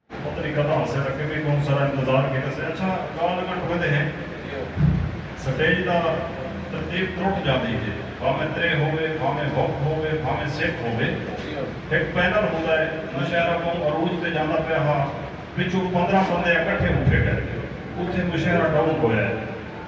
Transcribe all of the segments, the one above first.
پتہ نی کداں ہوسے تاں کیونکہ کون سارا انتظار کیتے سے اچھا گال اگر ٹوئے دے ہیں سٹیج دا ترتیب ترٹ جاندی ہے بھاویں ترے ہووے بھاویں ہک ہووے بھاویں سک ہووے ہک پینل ہوندا ہے مشاعرہ کوں عروج تے جاندا پیا ہا پچھوں پندرہ بندے اکٹھے اٹھے گئے اتھے مشاعرہ ڈاؤن ہویا ہے۔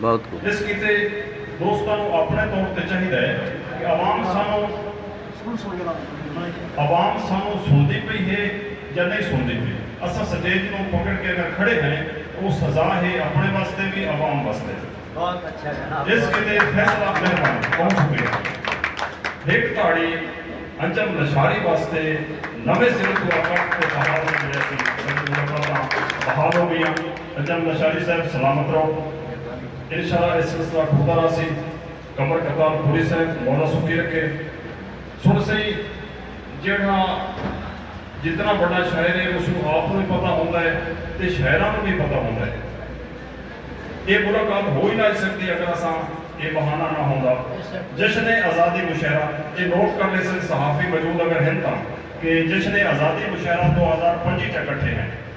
بہت کوں۔ اس کیتے دوستاں نوں اپنڑے طور تے چاہیدا ہے کہ عوام سانوں عوام سانوں سنڑدی پئی ہے یا نئیں سنڑدی پئی اساں سٹیج نوں پکڑ کے اگر کھڑے ہیں او سزا ہے اپنڑے واسطے وی عوام واسطے وی اس کیتے فیصلہ مہربانی بہت شکریہ ہک تاڑی انجم لشاری واسطے نویں سرے توں اکاٹ تے بحال ہو گئے اسی سنگت ملاقاتاں بحال ہو گئیاں۔ اچ ایم لشاری صاحب سلامت رہو انشاءاللہ اے سلسلہ ٹردا رہسی قمر قتال پوری صاحب مولا سکھی رکھے سن سئیں جیڑھا جتنا وڈا شاعر اے اس نو آپ نو وی پتہ ہوندا اے تے شاعراں نو وی پتہ ہوندا اے اے ملاقات ہو ہی نہ اچ سکدی اگر اساں اے بہانہ نہ ہوندا جشن آزادی مشاعرہ اے نوٹ کر لیسن صحافی موجود اگر ہن تاں کہ جشن آزادی مشاعرہ دو ہزار پنجی چا کٹھے ہیں۔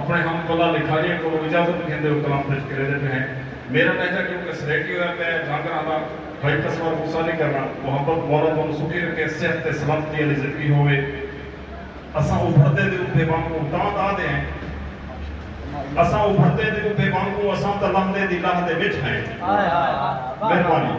اپݨے ہم کلاں دی کھاجیں کولوں اجازت گھندے او کلام پیش کریندے پئے ہیں۔ میݙا لہجہ کیوں کہ سلیٹی ہویا پئے ہے تاں کراں دا بھائی تصور غصہ نی کرݨا۔ محبت مولا تہاݙوں سکھی رکھے صحت تے سلامتی آلی زندگی ہووے۔ اساں ابھردے دے ابھے وانگوں تاں دا دے ہیں۔ اساں ابھردے دے ابھے وانگوں اساں تاں لہندے دی لاہ دے وچ ہیں۔ مہربانی۔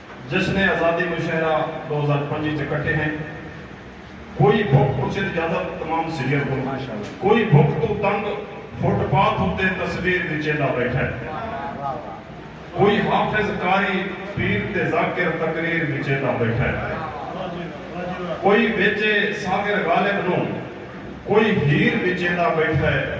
جشن آزادی مشاعرہ دو ہزار پنجی اچ اکٹھے ہن کوئی بھک پچھے دی اجازت تمام سینئر کوں کوئی بھک توں تنگ فٹ پاتھ اتے تصویر وچیدا بیٹھا ہے کوئی حافظ قاری پیر تے ذاکر تقریر وچیدا بیٹھا ہے کوئی ویچے ساغر غالب نوں کوئی ہیر وچیدا بیٹھا ہے۔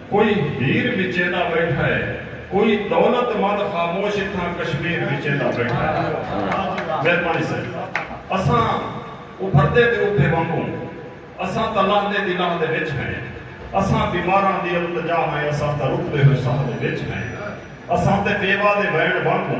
کوئی ہیر وچیندا بیٹھا ہے کوئی دولت مند خاموش اتھاں کشمیر وچیندا بیٹھا ہے مہربانی صاحب اساں ابھردے دے اٹھے وانگوں اساں تاں لہندے دی لاہ دے وچ ہیں اساں بیماراں دی التجا ہیں اساں تاں رکدے ہوئے ساہ دے وچ ہیں اساں تے بیوہ دے وین وانگوں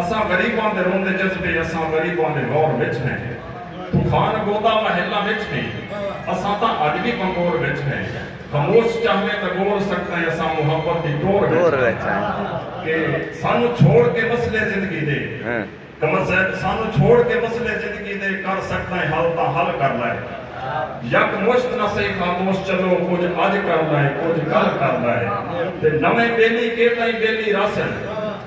اساں غریباں دے روندے جذبے اساں غریباں دے غور وچ ہیں طوفان گودا محلاں وچ ہیں اساں تاں اج وی بنگور وچ ہیں خموش چاہویں تاں گور سکدیں اساں محبت دی ٹور وچ ہیں کہ سانوں چھوڑ کے مسئلے زندگی دے قمر صاحب سانوں چھوڑ کے مسئلے زندگی دے کر سکدیں حل تاں حل کر لائے یک مشت نہ سہی خاموش چلو کجھ اج کر لائے کجھ کل کر لائے تے نویں بیلی کے تائیں بیلی راسن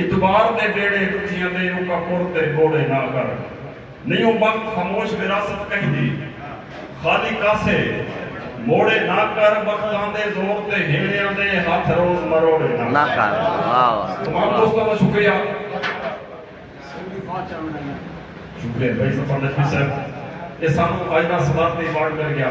اتوار دے ڈیہڑے ڈکھیاں دے اوکا پور تے گوڑے نہ کر نئیوں وقت خاموش وراثت کہندی خالی کاسے موڑے نہ کر وقتاں دے زور تے ہیلیاں دے ہتھ روز مروڑے نہ کر تمام دوستاں دا شکریہ شکریہ بھائی سفر نقوی صاحب اے سانوں اج دا صدارتی ایوارڈ مل گیا۔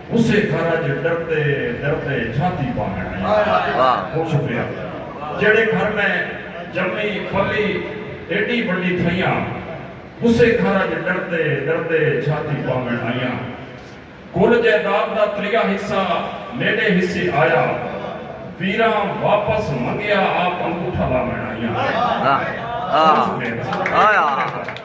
اسے گھر اچ ڈردے ڈردے جھاتی پاوݨ آئی ہاں شکریہ جیڑھے گھر میں جمی پلی ایڈی وڈی تھیاں اسے گھر اچ ڈردے ڈردے جھاتی پاوݨ آئی کل جائیداد دا تریہ حصہ میڈے حصے آیا پیراں واپس منگیا آپ انگوٹھا لاوݨ آئی ہاں شکریہ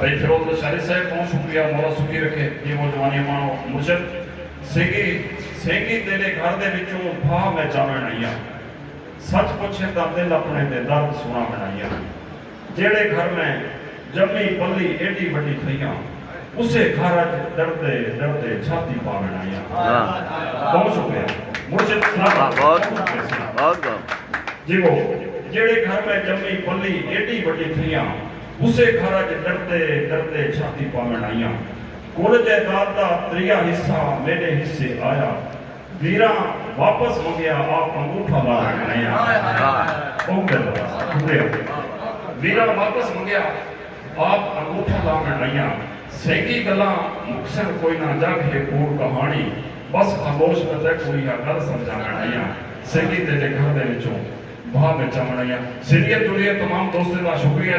بھئی فیروز لشاری صاحب توں شکریہ مولا سکھی رکھے جی وہ جوانی ماں مرشد سینگی سینگی تیڈے گھر دے وچوں بھا میں جاوین آئی ہاں سچ پچھیں تاں دل اپنے دے درد سناوین آئی ہاں جیڑھے گھر میں جمی پلی ایڈی وڈی تھئی ہاں اسے گھر اچ ڈردے ڈردے چھاتی پاوݨ آئی ہاں۔ بہت شکریہ مرشد سلامت بہت شکریہ بہت بہت جیوو جیڑھے گھر میں جمی پلی ایڈی وڈی تھیاں اسے گھر اچ ڈردے ڈردے چھاتی پاوݨ آئی ہاں کل جائیداد دا تریہا حصہ میڈے حصے آیا ویراں واپس منگیا آپ انگوٹھا لاوݨ آئی ہاں بہت بہت شکریہ ویراں واپس منگیا آپ انگوٹھا لاوݨ آئیاں سیکیں گلاں مکسن کوئی نہ جگ ہے کوڑ کہاݨی بس خاموش پتہ کوں ایہا گل سمجھاوݨ آئیاں سیکیں تیݙے گھر دے وچوں بھا میں چاوݨ آئیاں سیریئل جڑیے تمام دوستیں دا شکریہ۔